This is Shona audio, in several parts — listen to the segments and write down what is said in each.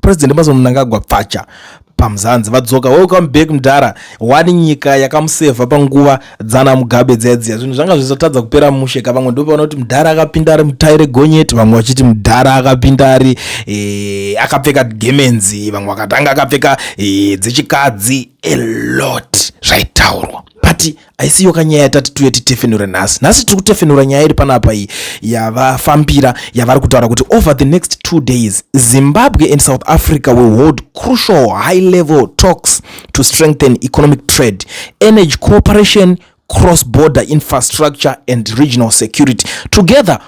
President Emmerson Mnangagwa pfacha pamzanzi vadzoka welcome back mdara wani nyika yakamusevha panguva dzana mugabe dzaidziya zvinhu zvanga zvizotadza kupera mushe ka vamwe ndopa vanoti mdara akapinda ari mutai regonyeti vamwe vachiti mdara akapinda ari e, akapfeka gemenzi vamwe vakatanga akapfeka e, dzechikadzi a lot zvaitaurwa but haisiyo kanyaya yatati tuye titefenure nhasi nhasi tiri kutefenura nyaya iri panapa iyi yavafambira yavari kutaura kuti over the next two days zimbabwe and south africa will hold crucial high level talks to strengthen economic trade energy cooperation cross border infrastructure and regional security together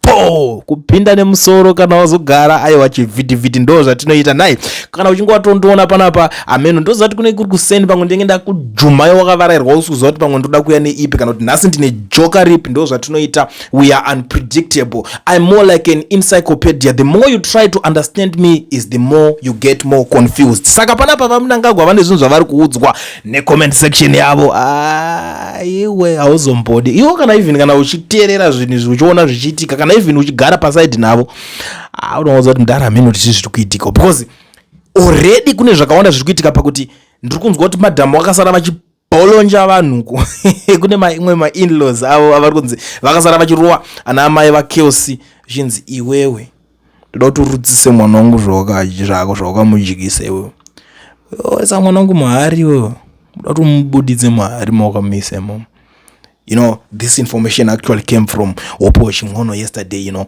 po kupinda nemusoro kana wazogara aiwa chivhitivhiti ndo zvatinoita nhai kana uchinge watondiona panapa ameno ndoziva kuti kune kuri kuseni pamwe ndenge ndakujumai wakavarairwa usi kuziva kuti pamwe ndoda kuya neipi kana kuti nhasi ndine joka ripi ndo zvatinoita we are unpredictable im more like an encyclopedia the more you try to understand me is the more you get more confused saka panapa vamunangagwa vane zvinhu zvavari kuudzwa necomment section yavo ah, iwe hauzombodi iwo kana even kana uchiteerera zvinhu izvi uchiona zvichiitika kana even uchigara pasaidi navo ah, unowanza kuti mdara mheno tichi zviri kuitika because already kune zvakawanda zviri kuitika pakuti ndiri kunzwa kuti madhamu vakasara vachibolonja vanhuko kune maimwe mainlaws avo avari kunzi vakasara vachirowa ana amai vakelsi zvichinzi iwewe ndoda kuti urudzise mwana wangu zvako zvawakamudyisa iwewe oisa mwana wangu mahari iwewe ndoda kuti umubuditse mahari mawakamuisa imomo you know this information actually came from wopo chimwono yesterday you know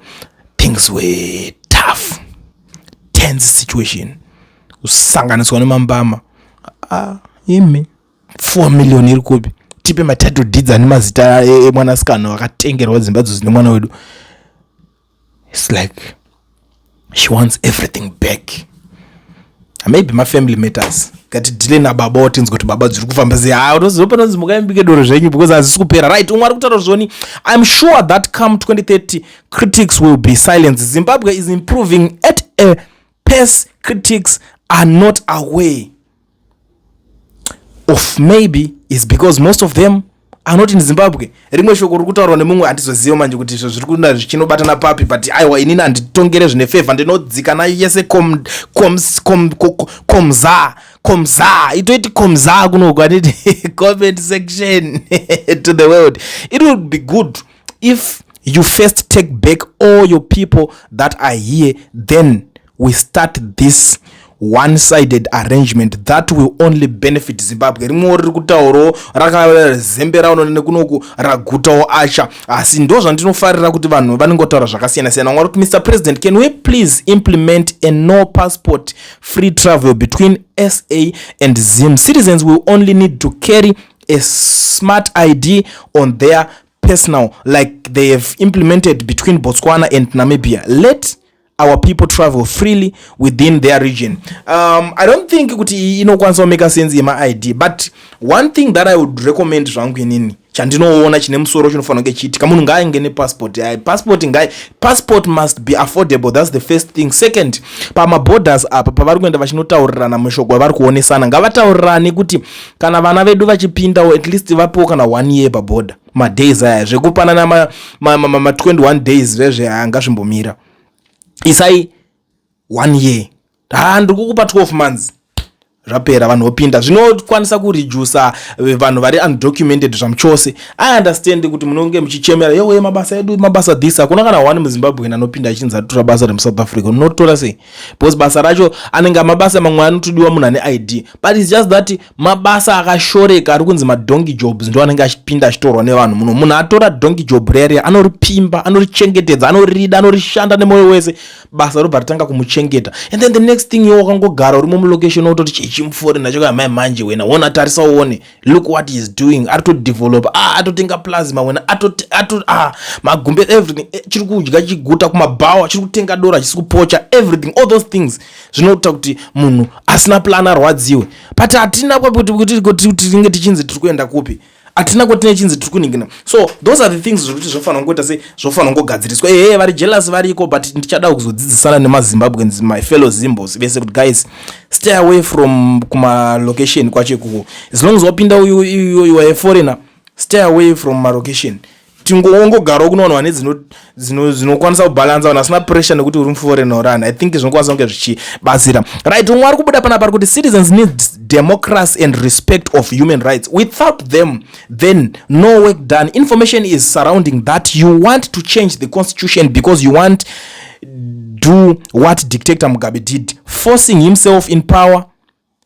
things were tough tense situation kusanganiswa nemambama ah, imi four million iri kupi tipe matitle deeds ane mazita emwanasikana akatengerwa dzimba dzo dzine mwana wedu It's like she wants everything back maybe mafamily matters ngatidhile nababa otinzi kuti baba dziri kufamba sei ha unozopanonzi mukaimbike doro zvenyu because hazvisi kupera right umwe ari kutaura zvoni iam sure that come 2030 critics will be silence zimbabwe is improving at a pace critics are not away of maybe is because most of them are not in zimbabwe rimwe shoko ri kutaurwa nemumwe handizoziva manje kuti izvo zviri kuna zvichinobatana papi but aiwa inini handitongere zvine favor ndinodzika nayo yese komza komza itoiti komza kunoku anditi comment section to the world it would be good if you first take back all your people that are here then we start this one sided arrangement that will only benefit zimbabwe rimwewo riri kutaurawo rakazembera raonana nekunoku ragutawo asha asi ndo zvandinofarira kuti vanhu vanenge kutaura zvakasiyana siyana vanga kuti mr president can we please implement a no passport free travel between sa and zim citizens will only need to carry a smart id on their personal like they have implemented between botswana and namibia let our people travel freely within their region um, i don't think kuti inokwanisa kumeka sense yemaid but one thing that i would recommend zvangu inini chandinoona chine musoro chinofanira kunge chiitika munhu ngaainge nepassport yaye passport ngai passport must be affordable thats the first thing second pamaborders apa pavari kuenda vachinotaurirana mushoko wavari kuonesana ngavataurirane kuti kana vana vedu vachipindawo at least vapewo kana one year paborder madays aya zvekupanana ma, ma, ma, ma, ma 21 days zvezve anga zvimbomira isai one year ha ndiri kukupa 12 months zvapera vanhu vopinda zvinokwanisa kurijusa eh, vanhu vari undocumented zvamuchose i understand kuti munonge muchichemera yewe mabasa edu mabasa this hakuna kana one muzimbabwean anopinda achinzi atora basa remusouth africa unotora sei because basa racho anenge mabasa mamwe anotodiwa munhu ane id but its just that mabasa akashoreka ari kunzi madonki jobs ndo anenge achipinda achitorwa nevanhu muno munhu atora donki job reriya anoripimba anorichengetedza anorida anorishanda nemwoyo wese basa robva ritanga kumuchengeta and then the next thing iwo wakangogara urimo mulocation wototi chichimufori nacho kamai manje wena wona tarisa uone look what is doing ari todevelopa a ah, atotenga plasma wena ah, magumbe everything eh, chiri kudya chiguta kumabhawa chiri kutenga dora chisi kupocha everything all those things zvinoita kuti munhu asina plan arwadziwe but hatina kwakutitinge tinge tichinzi tiri kuenda kupi hatina kwatine chinzi tiri kuningina so those are the things zvokuti zvofanira kungoita se zvofanira kungogadziriswa ehe vari jealous variko but ndichada kuzodzidzisana nemazimbabweans my fellow zimbos vese kuti guys stay away from kumalocation kwacho ikuko as long as wapinda uyu uyu uyu waeforeigner stay away from malocation tingongogarawo kuno vanhu vane dzinokwanisa kubhalansa vanhu vasina pressure nekuti uri muforeign or ani i think zvinokwanisa kunge zvichibatsira right umwe ari kubuda pana pari kuti citizens need democracy and respect of human rights without them then no work done information is surrounding that you want to change the constitution because you want do what dictator mugabe did forcing himself in power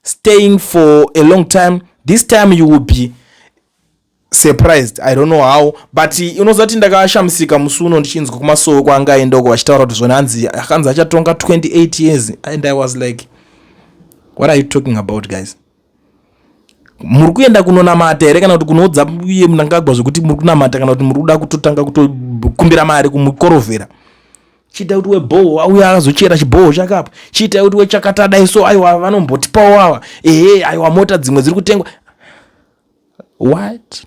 staying for a long time this time you will be surprised i don't know how but unoziva kuti ndakashamisika musi uno ndichinzwa kumasowe kwanga aendoko vachitaura kuti zvona hanzi akanzi achatonga 28 years and i was like what are you talking about guys muri kuenda kunonamata here kana kuti kunoudza iye munangagwa zvekuti muri kunamata kana kuti muri kuda kutotanga kutokumbira mari kumukorovhera chiita kuti webhoho auya akazochera chibhoho chake apo chiita kuti wechakata dai so aiwa vanombotipawo ava ehe aiwa mota dzimwe dziri kutengwa what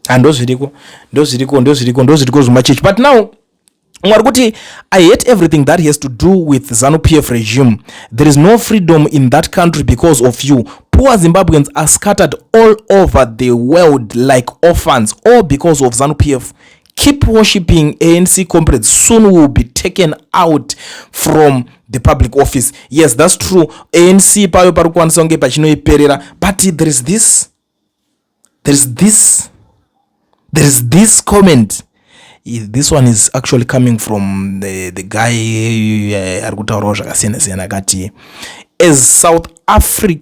handozviriko ndozviriko ndozviriko ndozviriko zvimachechi but now mwari kuti i hate everything that has to do with zanu p f regime there is no freedom in that country because of you poor zimbabweans are scattered all over the world like orphans all because of zanu p f keep worshipping anc comrades soon we will be taken out from the public office yes that's true anc payo pari kukwanisa kunge pachinoiperera but there is this there is this there is this comment this one is actually coming from the, the guy eh, ari kutaurawo zvakasiyana siyana akati as south africa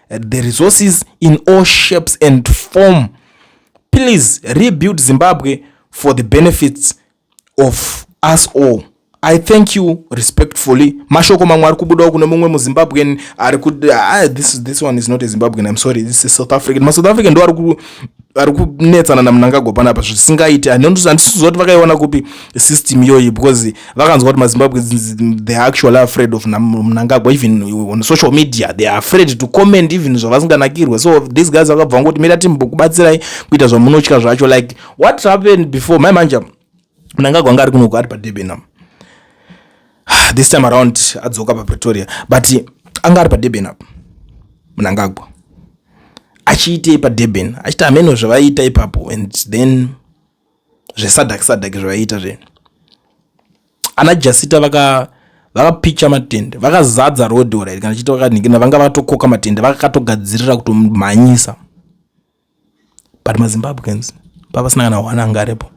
the resources in all shapes and form please rebuild zimbabwe for the benefits of us all i thank you respectfully mashoko mamwe ari kubudawo kune mumwe muzimbabwean ari kuti ah, this, this one is not a zimbabwean im sorry this is south african masouth african ndo ari vari kunetsana namunangagwa panapa zvisingaiti handisiziva kuti vakaiona kupi system iyoyi because vakanzwa kuti mazimbabwe they are actually afraid of munangagwa even on social media they are afraid to comment even zvavasinganakirwe so these guys vakabva vangoti mira timbokubatsirai kuita zvamunotya zvacho like what happened before mai manja mnangagwa anga ari kunoku ari padurban apa ah, this time around adzoka papretoria but anga ari padurban apa mnangagwa achiitei padurban achiti hameno zvavaiita ipapo and then zvesadak sadak zvavaiita zve ana jasita vaka vakapicha matende vakazadza rodora iri kana chiti vakanikina vanga vatokoka matende vakatogadzirira kutomhanyisa but mazimbabweans pavasina kana one anga aripo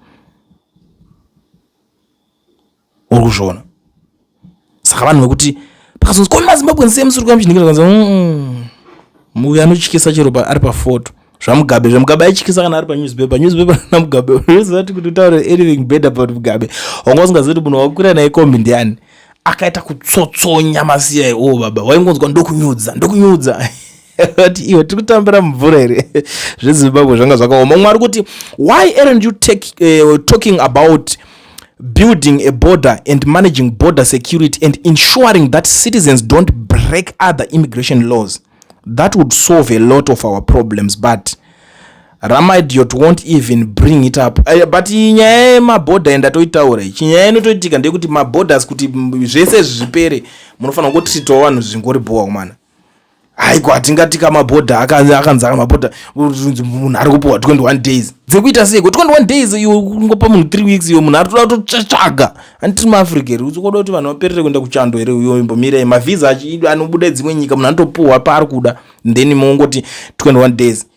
uri kuzviona saka vanhu vekuti pakazonzi koni mazimbabweans sei musiri kuamchindikiakanzi muvi anotyisa chero ari pafoto zvamugabe zvamugabe aityisa kana ari panewspaper newspaper namugabe unoziva ti kuti utaure anything bad about mugabe wanga usingazivi kuti munhu wakukwira naye kombi ndiani akaita kutsotsonya masiya iwo baba waingonzwa ndokunyudza ndokunyudza vati iwe tiri kutambira mumvura here zvezimbabwe zvanga zvakaoma umwe ari kuti why aren't you take, uh, talking about building a border and managing border security and ensuring that citizens don't break other immigration laws that would solve a lot of our problems but ramaidiot won't even bring it up uh, but nyaya yemaborder yendatoitaura ichi nyaya inotoitika ndeyekuti maborders kuti zvese zvipere munofanira kutritwa vanhu zvingori bhowa kumana haiko hatingati kamabhodha akanzi akanzi akamabhodha munhu ari kupiwa 21 days dzekuita seiko 21 days iyo kungopa munhu 3 weeks iyo munhu ari toda kutotsvaga handitiri muafrica here uzokoda kuti vanhu vaperere kuenda kuchando here uyo imbomirai mavhiza anobuda dzimwe nyika munhu anotopiwa paari kuda then mongoti 21 days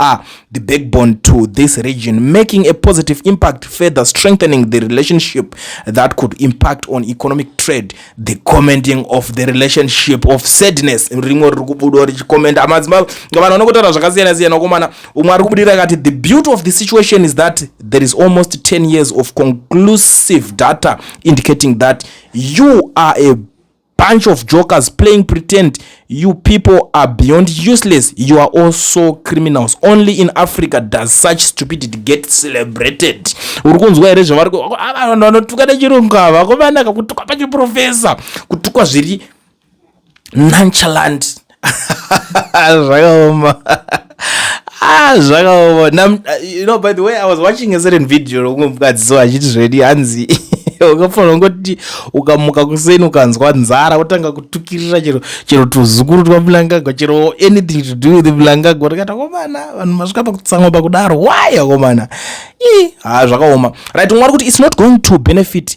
are the backbone to this region, making a positive impact, further strengthening the relationship that could impact on economic trade. The commenting of the relationship of sadness rimwe riri kubuda richikomenda madzimai vanhu vanokotaura zvakasiyana siyana ukomana umwe ari kubudira akati the beauty of the situation is that there is almost 10 years of conclusive data indicating that you are a bunch of jokers playing pretend you people are beyond useless you are also criminals only in africa does such stupidity get celebrated uri kunzwa here zvavari vanhu vanotuka nechirungu ava vakomana kakutuka pachiprofesa kutukwa zviri nonchalant zvakaoma ah zvakaoma Nam- you know by the way i was watching a certain video rokumwe mukadzi so achiti zvedi hanzi ukafanira kungoti ukamuka kuseni ukanzwa nzara wotanga kutukirira chero chero tuzukuru twamulangagwa chero anything to do with mulangagwa tikati akomana vanhu masvika pakutsamwa pakudaro why akomana ii haa zvakaoma right mwari kuti its not going to benefit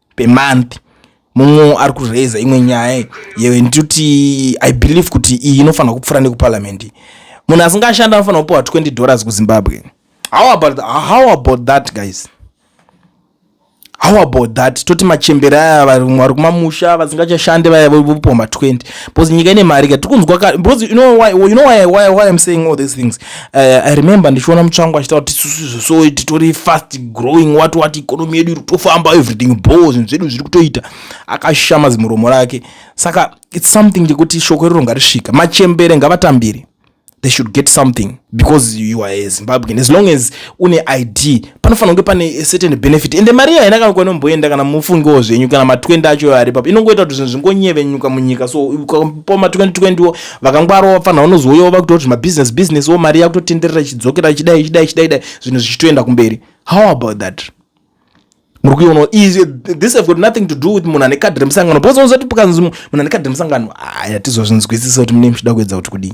per month mumwe ari kuraiza imwe nyaya yewe ndituti i believe kuti iyi inofanira kupfuura nekuparliament munhu asingashanda anofanira kupiwa 20 dollars kuzimbabwe how about, how about that guys how about that toti machembere aya vari kumamusha vasingachashande vaya vopoma 20 bcause nyika ine mari ka tiri kunzwa ka bcause you know why, you know why, why, why im saying all these things Eh, i remember ndichiona mutsvangu achitaura kuti isusu izvo so titori fast growing wat wat ikonomi yedu iri kutofamba everything bo zvinhu zvedu zviri kutoita akashama zimuromo rake saka its something chekuti shoko iroro ngarisvika machembere ngavatambire they should get something because you are a zimbabwean as long as une id panofanira kunge pane certain benefit ende mari iya haina kana kwainomboenda kana mufungiwo zvenyu kana ma20 acho ari papo inongoita kuti zvinhu zvingonyevenyuka munyika so ukapo ma2020 wo vakangwara wafanira unozouyawo vakuita kuti mabusiness business wo mari yakutotenderera ichidzokera ichidai ichidai ichidai dai zvinhu zvichitoenda kumberi how about that muri kuiona this have got nothing to do with munhu ane kadhi remusangano because unozoti pukanzi munhu ane kadhi remusangano aya tizozvinzwisisa kuti mune muchida kuedza kuti kudii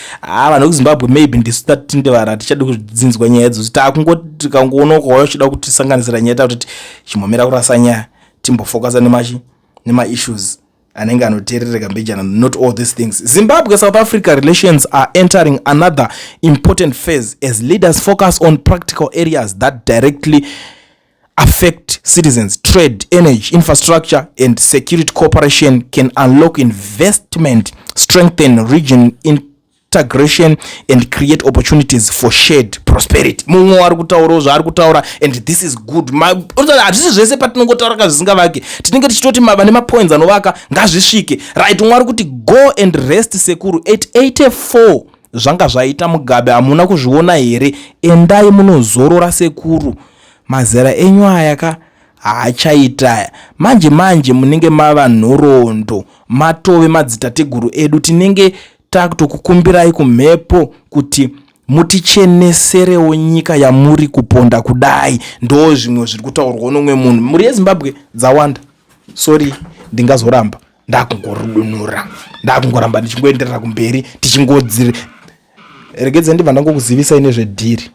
haa ah, vanhu vekuzimbabwe maybe ndisu tati tindevara tichadi kudzinzwa nyaya idzo kuti takungoti tikangoona ukauya uchida kutisanganisira nyaya takutoti chimomera kurasa nyaya timbofokasa nemachi nemaissues anenge anoteerereka mbijana not all these things zimbabwe south africa relations are entering another important phase as leaders focus on practical areas that directly affect citizens, trade, energy, infrastructure, and security cooperation can unlock investment, strengthen region integration, and create opportunities for shared prosperity. Mumwe wari kutaurawo zvaari kutaura and this is good. Hazvisi zvese patinongotaura ka zvisingavake. Tinenge tichitoti vane mapoints anovaka ngazvisvike. Right, umwe ari kuti go and rest sekuru at 84 zvanga zvaita Mugabe hamuna kuzviona here? Endai munozorora sekuru. Mazera enyu aya ka haachaita aya. Manje manje munenge mava nhoroondo matove madzitateguru edu tinenge takutokukumbirai kumhepo kuti muticheneserewo nyika yamuri kuponda kudai ndo zvimwe zviri kutaurwa nomwe munhu mhuri yezimbabwe dzawanda sorry ndingazoramba ndakungorudunura ndakungoramba ndichingoenderera kumberi tichingodziri regedza ndibva ndangokuzivisai nezvedhiri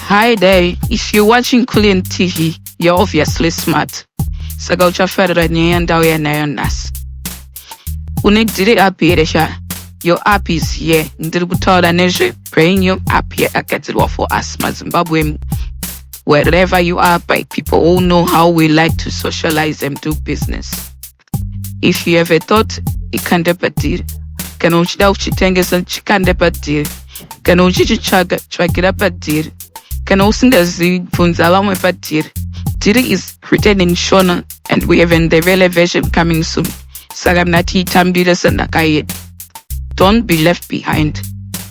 hi dai if you watching clean tv you're obviously smart saka uchafarira nyaya yandauya nayo nhasi une dhiri api here sha your app is here ndiri kutaura nezve brain your app yakagadzirwa for us mazimbabwe wherever you are by people who know how we like to socialize and do business if you have a thought ikande padhiri kana uchida kuchitengesa chikande padhiri kana uchichitsvaga tsvagira padhiri kana usingazivi bvunza vamwe padhiri dhiri is written in shona and we have an ndevele version coming soon saka mnatiitambire sendaka yedu don't be left behind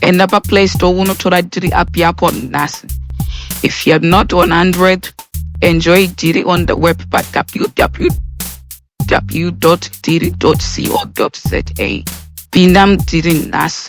enda paplay store unotora dhiri app yako nhasi if you're not on android enjoy dhiri on the web pa www dhiri co za pinda mudhiri nhasi